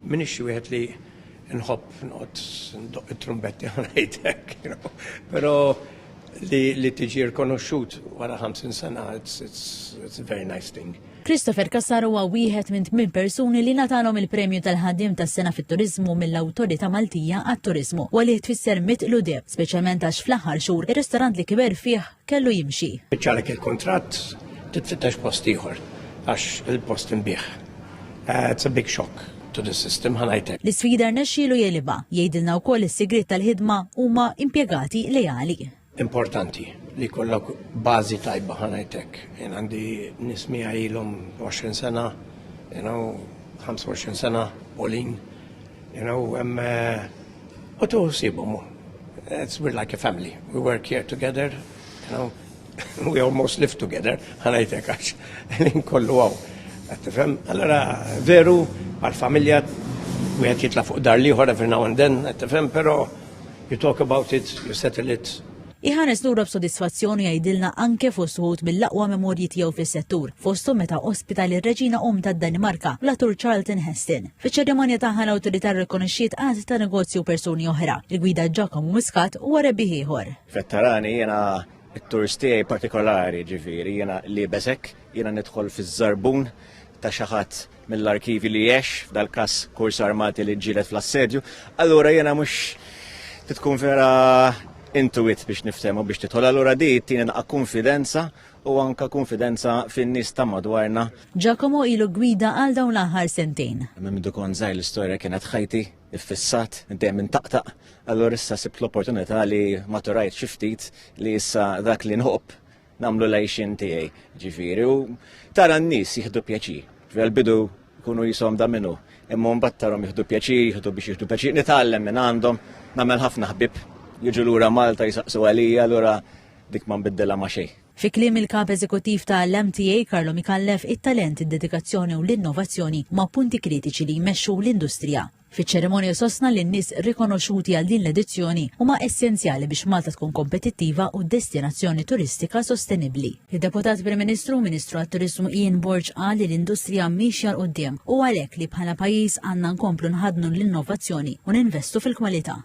M'iniex xi wieħed li nħobb noqgħod ndoqq it-trumbetti u ngħid hekk, you know. Però li li tiġi rkonoxxut wara 50 sena, it's, it's, it's a very nice thing. Christopher Cassar huwa wieħed minn tmien persuni li natalhom il-Premju tal-Ħaddiem tas-Sena fit-Turiżmu mill-Awtorità Maltija għat-Turiżmu u li tfisser mit ludeb, speċjalment għax fl-aħħar xhur ir-ristorant li kiber fih kellu jimxi. Iċċarek il-kuntratt, titfittex post ieħor għax il-post inbiegħ. It's a big shock to the system, ħa ngħidlek. L-isfida rnexxielu jegħlibha, jgħidilna wkoll is-sigriet tal-ħidma huma impjegati leali. Importanti li jkollok bażi tajba ħa ngħid hekk. Jien għandi nies miegħi ilhom 20 sena, you know, 25 sena, Pauline, You know, um, uh, u tu sibum. It's we're like a family. We work here together, you know, we almost live together, ħanajtek għax, l-in kollu għaw. Għattifem, allora, veru, għal-familja, u għet jitla fuq dar liħor every now and then, għattifem, pero you talk about it, you settle it, Iħares lura b'sodisfazzjon u jgħidilna anke fost wħud mill-aqwa memorji tiegħu fis-settur, fosthom meta ospita lir-Reġina Omm tad-Danimarka, l-attur Charlton Heston. Fiċ-ċerimonja tagħha l-Awtorità rrikonoxxiet għadd ta' negozji u persuni oħra. Il-gwida Giacomo Muscat huwa rebbieħ ieħor. Vetterani jiena t-tours tiegħi partikolari ġifieri jiena liebes hekk, jiena nidħol fiż-żarbun ta' xi ħadd mill-arkivji li għex f'dal-każ kurs armati li ġġieled fl-assedju, allura jiena mhux titkun vera intuit biex niftehmu biex tidħol allura di tieni naqa' konfidenza u anka konfidenza fin-nies ta' madwarna. Giacomo ilu gwida għal dawn l-aħħar sentejn. Minn mindu kont żgħir l-istorja kienet ħajti, iffissat, dejjem intaqtaq, allura issa sibt l-opportunità li maturajt xi ftit li issa dak li nħobb nagħmlu l-għajxin tiegħi ġifieri u tara n-nies jieħdu pjaċir. Fil-bidu jkunu jisom da minnu, imma mbagħad tarhom jieħdu pjaċir, jieħdu biex jieħdu pjaċir, nitgħallem minn għandhom, nagħmel ħafna ħbib, jiġu lura Malta jisaqsu għalija lura dik ma nbiddilha ma xejn. Fi kliem il-kap eżekuttiv ta' l-MTA Karlo Mikallef, it-talent, id-dedikazzjoni u l-innovazzjoni ma' punti kritiċi li jmexxu l-industrija. Fiċ-ċerimonja sostna li n-nies rikonoxxuti għal din l-edizzjoni huma essenzjali biex Malta tkun kompetittiva u destinazzjoni turistika sostenibbli. Id-Deputat Prim Ministru u Ministru għat-Turiżmu Ian Borg qal li l-industrija miexja 'l quddiem u għalhekk li bħala pajjiż għandna nkomplu nħaddnu l-innovazzjoni u ninvestu fil-kwalità.